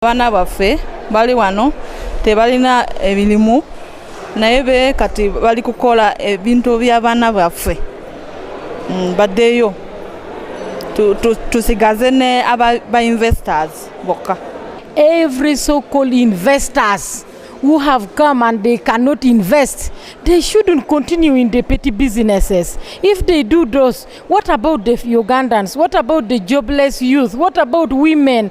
abaana baffe bali wano tebalina emirimu naye be kati bali kukola ebintu by'abaana baffe mm, baddeyo tusigaze ne ba investors bokka every so called investors who have come and they cannot invest, they shouldn't continue in the petty businesses. If they do those, what about the Ugandans? What about the jobless youth? What about women?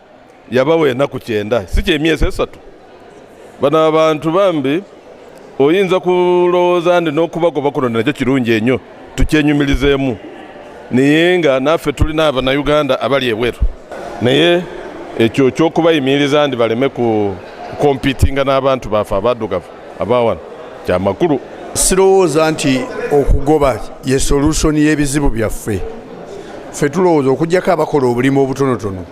yabawa enaku kyenda si kyemyezi esatu bano abantu bambi oyinza kulowooza ndi n'okubagoba kuno nakyo kirungi enyo tukyenyumirizeemu naye nga naffe tulina abanauganda abali ebweru naye ekyo kyokubayimiriza ndi baleme ku kompitinga n'abantu baffe abadugavu abawano kyamakulu sirowooza nti okugoba ye solusoni y'ebizibu byaffe ffe tulowooza okugyako abakola obulimu obutonotono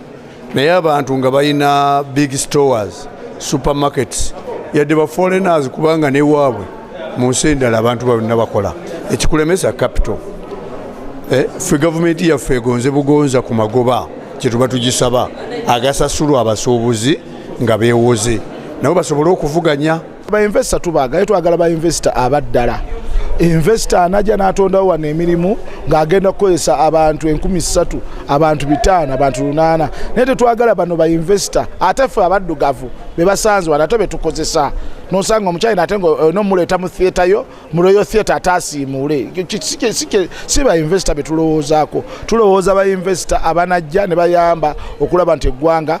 naye abantu nga balina big stores supermarkets yadde ba foreigners kubanga newaabwe mu nsi endala abantu balina bakola ekikulemesa capital eh, ffe gavumenti yaffe egonze bugonza ku magoba kyetuba tugisaba agasasulwa abasuubuzi nga beewoze nabo basobole okuvuganya bainvesita tubaagaye twagala bainvesita abaddala invesita anaja n'atondawo wano emirimu ng'agenda kukozesa abantu enkumi ssatu abantu bitaano abantu lunaana naye tetwagala bano bainvesita ate ffe abaddugavu be basanze wano ate be tukozesa nosanga omukyayina ate nomuleeta mu theatre yo mu royal theatre ate asiimuule si bainvesita be tulowoozaako tulowooza bainvesita abanajja ne bayamba okulaba nti eggwanga